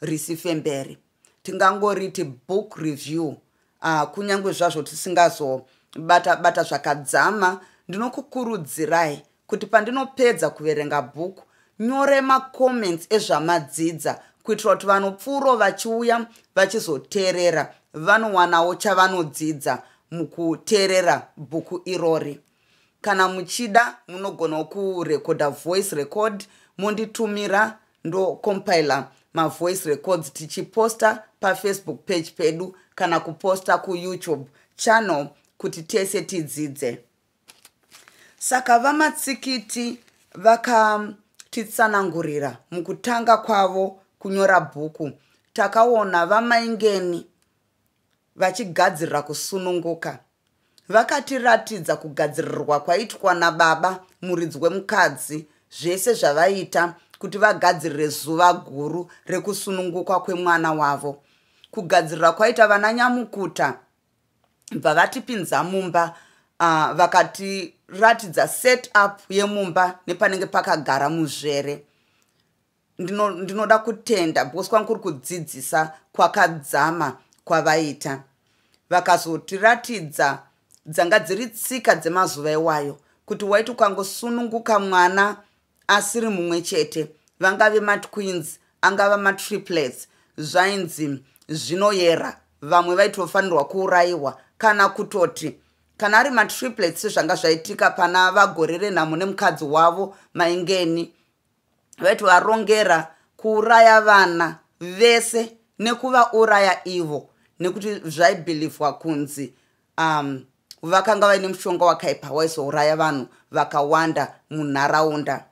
risifemberi tingangoriti book review uh, ah, kunyange zvazvo tisingazobata bata zvakadzama ndinokukurudzirai kuti pandinopedza kuverenga bhuku nyore macomments ezvamadzidza kuitira kuti vanopfuuro vachiuya vachizoteerera vanowanawo chavanodzidza mukuteerera bhuku irori kana muchida munogonawo kurekodha voice record monditumira ndocompile mavoice records tichiposta pafacebook page pedu kana kuposta kuyoutube channel kuti tese tidzidze saka vamatsikiti vakatitsanangurira mukutanga kwavo kunyora bhuku takaona vamaingeni vachigadzirira kusununguka vakatiratidza kugadzirirwa kwaitwa nababa muridzi wemukadzi zvese zvavaita kuti vagadzirire zuva guru rekusunungukwa kwemwana wavo kugadzirira kwaita vana nyamukuta bva vatipinza mumba uh, vakatiratidza set up yemumba nepanenge pakagara muzvere ndino, ndinoda kutenda because kwangu kuri kudzidzisa kwakadzama kwavaita vakazotiratidza dzanga dziri tsika dzemazuva iwayo kuti waiti ukangosununguka mwana asiri mumwe chete vangave matwins angava matriplets zvainzi zvinoyera vamwe vaitofanirwa kuurayiwa kana kutoti kana ari matriplets zvanga zvaitika pana vagore renhamo nemukadzi wavo maingeni vaiti varongera kuuraya vana vese nekuvauraya ivo nekuti zvaibhilivhwa kunzi um, vakanga vaine mushonga wakaipa waizouraya vanhu vakawanda munharaunda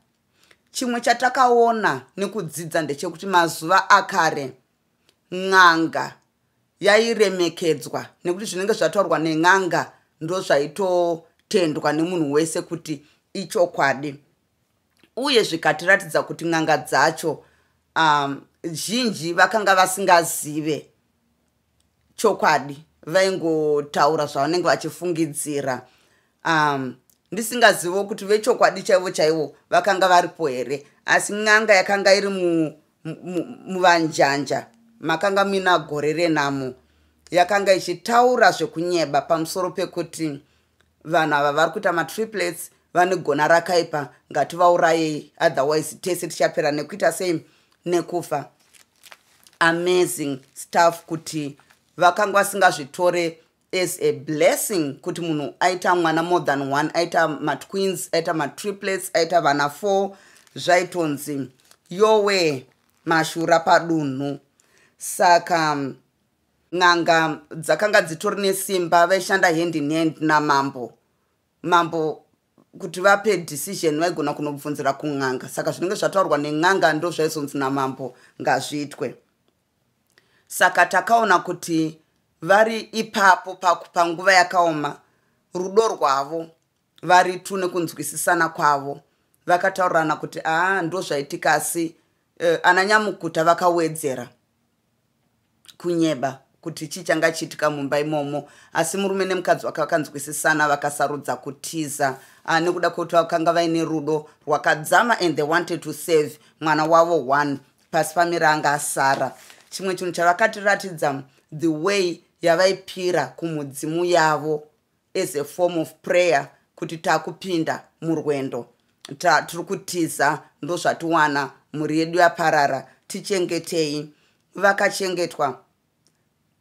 chimwe chatakaona nekudzidza ndechekuti mazuva akare n'anga yairemekedzwa nekuti zvinenge zvataurwa nen'anga ndozvaitotendwa nemunhu wese kuti ichokwadi uye zvikatiratidza kuti n'anga dzacho um, zhinji vakanga vasingazive chokwadi vaingotaura zvavanenge vachifungidzira um, ndisingazivo kuti vechokwadi chaivo chaivo vakanga varipo here asi n'anga yakanga iri muvanjanja mu, mu makanga muina gore renamo yakanga ichitaura zvekunyeba pamusoro pekuti vanhu ava vari kuita matriplets vane gona rakaipa ngativaurayei otherwise tese tichapera nekuita sei nekufa amazing staff kuti vakanga vasingazvitore as a blessing kuti munhu aita mwana more than one aita matwins aita matriplets aita vana four zvaitonzi yowe mashura padunhu saka n'anga dzakanga dzitori nesimba vaishanda hand in hand namambo mambo kuti vape decision vaigona kunobvunzira kun'anga saka zvinenge zvataurwa nen'anga ndo zvaizonzi namambo ngazviitwe saka takaona kuti vari ipapo panguva yakaoma rudo rwavo vari tu nekunzwisisana kwavo vakataurirana kuti aa ndo zvaitika asi uh, eh, ananyamukuta vakawedzera kunyeba kuti chii changa chiitika mumba imomo asi murume nemukadzi wake vakanzwisisana vakasarudza kutiza ah, nekuda kwekuti vakanga vaine rudo rwakadzama and they wanted to save mwana wavo one pasi pamira anga asara chimwe chinhu chavakatiratidza the way yavaipira kumudzimu yavo as a form of prayer kuti takupinda murwendo tiri kutiza ndozvatiwana mhuri yedu yaparara tichengetei vakachengetwa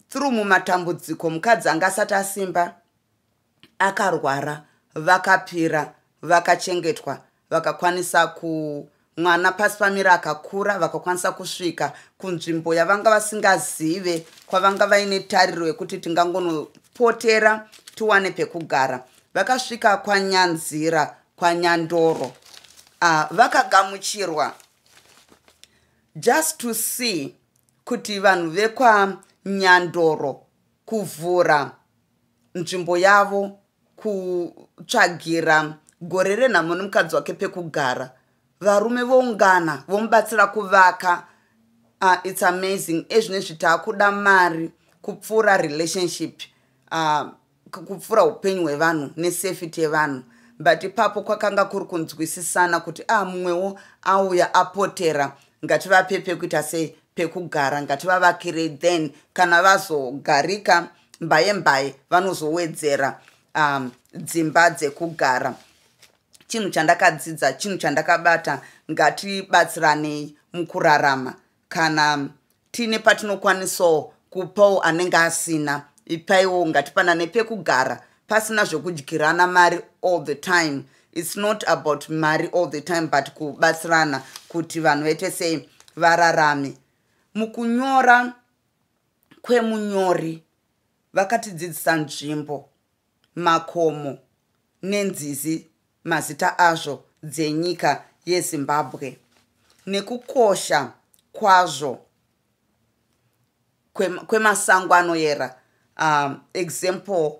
through mumatambudziko mukadzi anga asati asimba akarwara vakapira vakachengetwa vakakwanisa ku mwana pasi pamira akakura vakakwanisa kusvika kunzvimbo yavanga vasingazive kwavanga vaine tariro yekuti tingangonopotera tiwane pekugara vakasvika kwanyanzira kwanyandoro ah, vakagamuchirwa just to see kuti vanhu vekwanyandoro kuvhura nzvimbo yavo kutsvagira gore renhamo nemukadzi wake pekugara varume voungana vomubatsira kuvaka uh, its amazing ezvine zvitaakuda mari kupfuura relationship uh, kupfuura upenyu hwevanhu nesafety yevanhu but ipapo kwakanga kuri kunzwisisana kuti a ah, mumwewo auya apotera ngativape pekuita sei pekugara ngativavakirei then kana vazogarika so mbaye mbaye vanozowedzera um, dzimba dzekugara chinhu chandakadzidza chinhu chandakabata ngatibatsiranei mukurarama kana tiine patinokwanisawo kupawo anenge asina ipaiwo ngatipanane pekugara pasina zvekudyirana mari all the time its not about mari all the time but kubatsirana kuti vanhu vaite sei vararame mukunyora kwemunyori vakatidzidzisa nzvimbo makomo nenzizi mazita azvo dzenyika yezimbabwe nekukosha kwazvo kwemasango anoyera um, example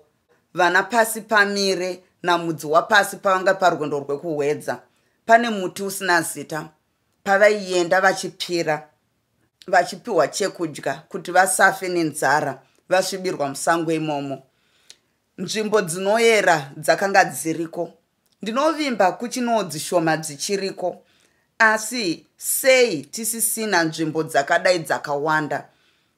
vana pasi pamire namudzi wapasi pavanga parwendo rwekuhwedza pane muti usina zita pavaienda vachipira vachipiwa chekudya kuti vasafe nenzara vasvibirwa musango imomo nzvimbo dzinoyera dzakanga dziriko ndinovimba kuchinoo dzishoma dzichiriko asi sei tisisina nzvimbo dzakadai dzakawanda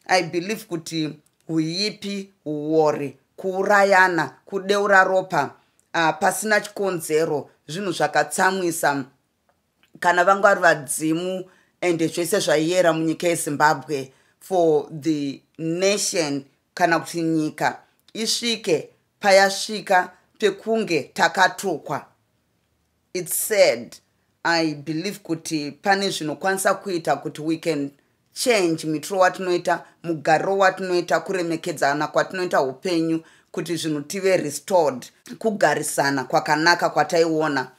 i believe kuti huipi huwori kuurayana kudeura ropa uh, pasina chikonzero zvinhu zvakatsamwisa kana vangwari vadzimu and zvese zvaiyera munyika yezimbabwe for the nation kana kuti nyika isvike payasvika pekunge takatukwa its sad i believe kuti pane zvinokwanisa kuita kuti we can change mitiro watinoita mugariro watinoita kuremekedzana kwatinoita upenyu kuti zvinhu tive restored kugarisana kwakanaka kwataiona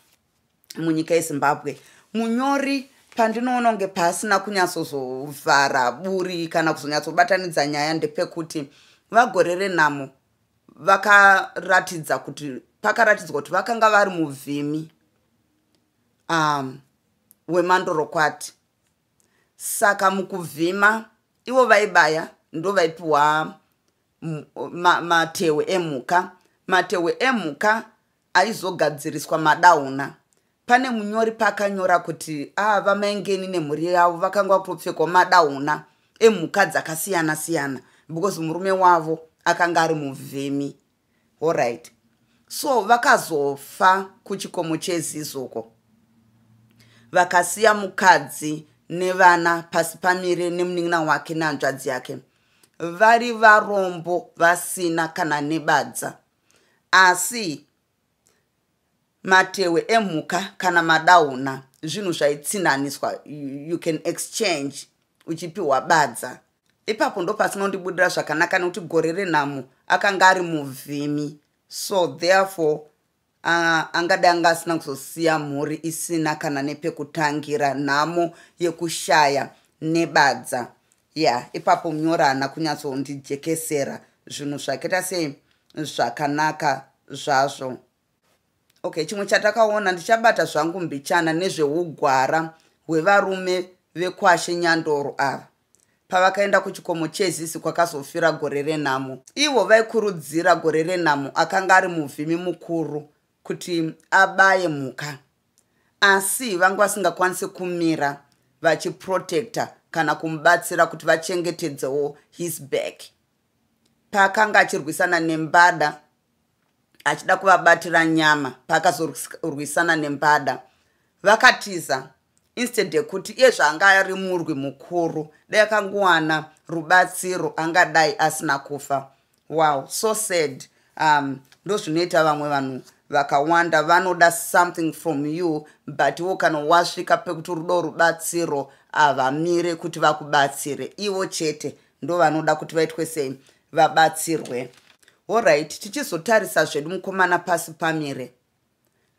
munyika yezimbabwe munyori pandinoona kunge paasina kunyatsozovhara buri kana kuzonyatsobatanidza nyaya ndepekuti vagore renhamo vakaratidza kuti pakaratidzwa kuti vakanga vari muvhimi um, wemandorokwati saka mukuvhima ivo vaibaya ndo vaipiwa matewe emhuka matewe emhuka aizogadziriswa madauna pane munyori paakanyora kuti aa ah, vamaengeni nemhuri yavo vakanga vakutopfekwa madauna emhuka dzakasiyana siyana because murume wavo akanga ari muvhimi horit so vakazofa kuchikomo chezizoko vakasiya mukadzi nevana pasi pamire nemunin'ina wake nehanzvadzi yake vari varombo vasina kana nebadza asi matehwe emhuka kana madauna zvinhu zvaitsinhaniswa you can exchange uchipiwa badza ipapo ndopasinondibudira zvakanaka nekuti gore renhamo akanga ari muvhimi so therefore uh, angade anga asina kuzosiya mhuri isina kana nepekutangira nhamo yekushaya nebadza yeah ipapo munyori haana kunyatsondijekesera zvinhu zvakaita sei zvakanaka zvazvo okay chimwe chatakaona ndichabata zvangu mbichana nezveugwara hwevarume vekwashe nyandoro ava pavakaenda kuchikomo chezisi kwakazofira gore renhamo ivo vaikurudzira gore renhamo akanga ari muvhimi mukuru kuti abaye mhuka asi vanga vasingakwanise kumira vachiprotecta kana kumubatsira kuti vachengetedzewo his back paakanga achirwisana nembada achida kuvabatira nyama paakazorwisana nembada vakatiza instead yekuti iye zvaanga ari murwi mukuru dai akangowana rubatsiro angadai asina kufa wow so sad um ndozvinoita vamwe vanhu vakawanda vanoda something from you but wo kana wasvika pekuti rudo rubatsiro havamire kuti vakubatsire ivo chete ndovanoda kuti vaitwe sei vabatsirwe allright tichizotarisa zvedu mukomana pasi pamire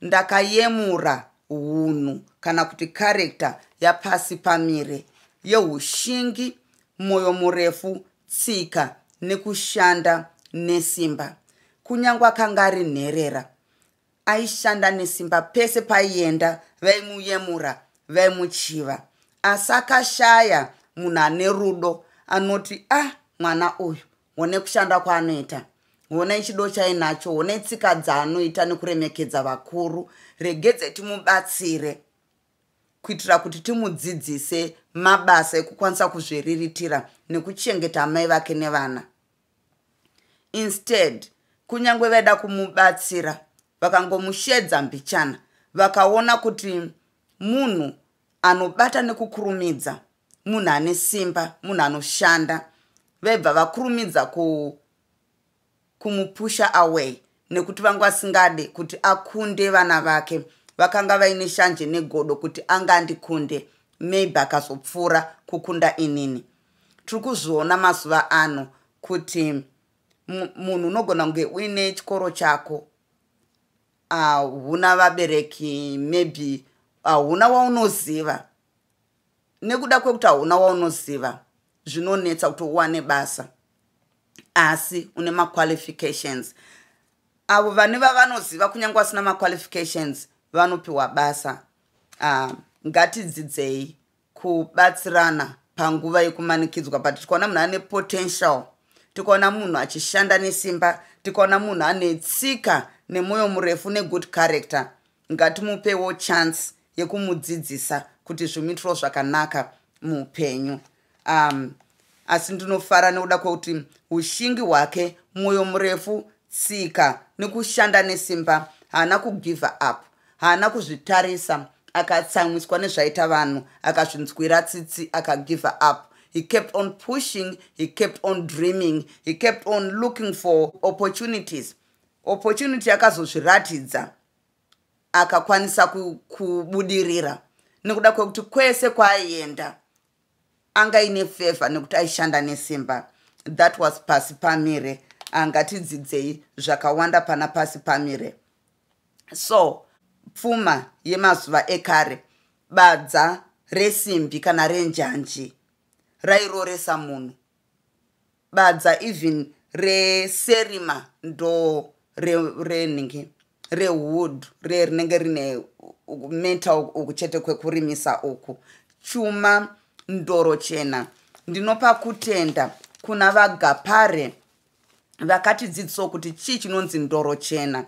ndakayemura hunhu kana kuti karekta yapasi pamire yeushingi mwoyo murefu tsika nekushanda nesimba kunyange akanga ari nherera aishanda nesimba pese paienda vaimuyemura vaimuchiva asi akashaya munhu ane rudo anoti ah mwana uyu honei kushanda kwaanoita honei chido chainacho honei tsika dzaanoita nekuremekedza vakuru regedze timubatsire kuitira kuti timudzidzise mabasa ekukwanisa kuzviriritira nekuchengeta amai vake nevana instead kunyange vaida kumubatsira vakangomushedza mbichana vakaona kuti munhu anobata nekukurumidza munhu ane simba munhu anoshanda vaibva vakurumidza ku kumupusha away nekuti vanga vasingade kuti akunde vana vake vakanga vaine shanje negodo kuti anga andikunde maybe akazopfuura kukunda inini tiri kuzviona mazuva ano kuti munhu unogona kunge uine chikoro chako ahuna vabereki maybe ahuna waunoziva nekuda kwekuti hauna waunoziva zvinonetsa kuti uwane basa asi une maqualifications avo vane vavanoziva kunyange vasina maqualifications vanopiwa basa uh, ngatidzidzei kubatsirana panguva yekumanikidzwa but tikaona munhu ane potential tikaona munhu achishanda nesimba tikaona munhu ane tsika nemwoyo murefu negood character ngatimupewo chance yekumudzidzisa kuti zvimuitiro zvakanaka muupenyu um, asi ndinofara nekuda kwekuti ushingi hwake mwoyo murefu tsika nekushanda nesimba haana kugiver up haana kuzvitarisa akatsamwiswa nezvaita vanhu akazvinzwira tsitsi akagiver up he kept on pushing he kept on dreaming he kept on looking for opportunities opportunity akazozviratidza akakwanisa kubudirira ku nekuda kwekuti kwese kwaaienda anga ine feva nekuti aishanda nesimba that was pasi pamire angatidzidzei zvakawanda pana pasi pamire so pfuma yemazuva ekare badza resimbi kana renjanji rairoresa munhu badza even reserima ndo renhingi rewood re rinenge rine meta uku chete kwekurimisa uku chuma ndoro chena ndinopa kutenda kuna vagapare vakatidzidzisawo kuti chii chinonzi ndoro chena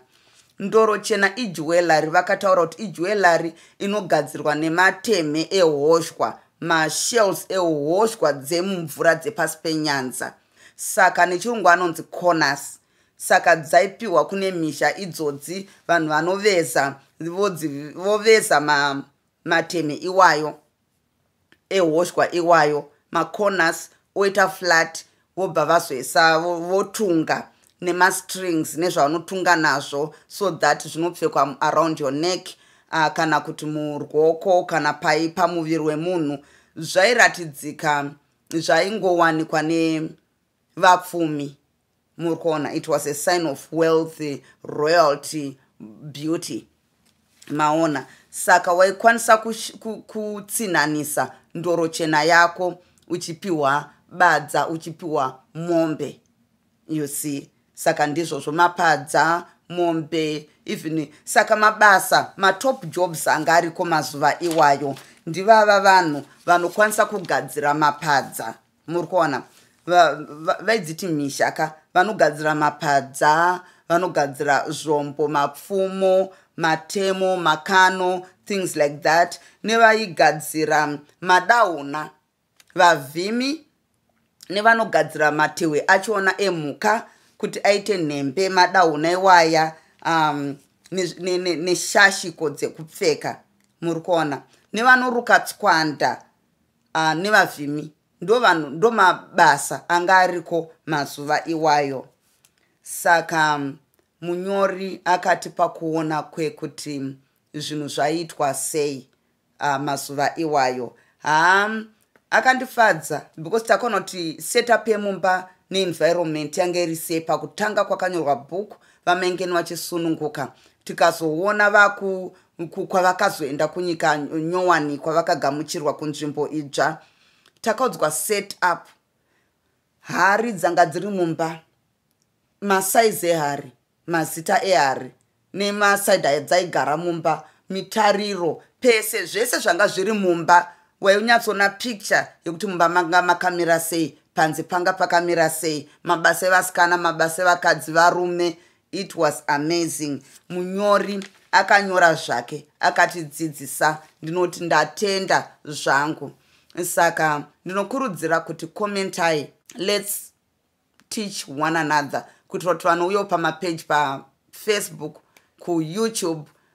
ndoro chena ijwellary vakataura kuti ijwellary inogadzirwa nematemhe ehoshwa mashells ehoshwa dzemumvura dzepasi penyanza saka nechirungu anonzi corners saka dzaipiwa kune misha idzodzi vanhu vanoveza voveza matemhe iwayo ehoshwa iwayo macorners oita flat vobva vazoisa votunga nemastrings nezvavanotunga nazvo so that zvinopfekwa around your neck uh, kana kuti murwoko kana pai pamuviri wemunhu zvairatidzika zvaingowanikwa nevapfumi muri kuona it was a sign of wealthy royalty beauty maona saka waikwanisa kutsinhanisa ku, ku ndoro chena yako uchipiwa badza uchipiwa mombe you see saka ndizvozvo mapadza mombe even saka mabasa matop jobs anga ariko mazuva iwayo ndivava vanhu vanokwanisa kugadzira mapadza muri kuona vaidziti misha ka vanogadzira mapadza vanogadzira zvombo mapfumo matemo makano things like that nevaigadzira madauna vavhimi nevanogadzira matehwe achiona emhuka kuti aite nhembe madauna iwaya um, neshashiko ne, ne, ne dzekupfeka muri kuona nevanoruka tswanda uh, nevavhimi ndo vanhu ndo mabasa anga ariko mazuva iwayo saka mm, munyori akati pakuona kwekuti mm, zvinhu zvaiitwa sei uh, mazuva iwayo haa mm, akandifadza because takaona kuti setup yemumba neenvironment yange iri sei pakutanga kwakanyorwa bhuku vamaingeni vachisununguka tikazoona vaku uku kwavakazoenda kunyika nyowani kwavakagamuchirwa kunzvimbo idzva takaudzwa set up hari dzanga dziri mumba masaizi ehari mazita ehari nemasaidi ayo dzaigara mumba mitariro pese zvese zvanga zviri mumba wainyatsoona picture yekuti mumba manga makamira sei panze panga pakamira sei mabasa evasikana mabasa evakadzi varume it was amazing munyori akanyora zvake akatidzidzisa ndinoti ndatenda zvangu saka ndinokurudzira kuti commentai lets teach one another kuitira kuti vanouyawo pamapeji pafacebook kuyoutube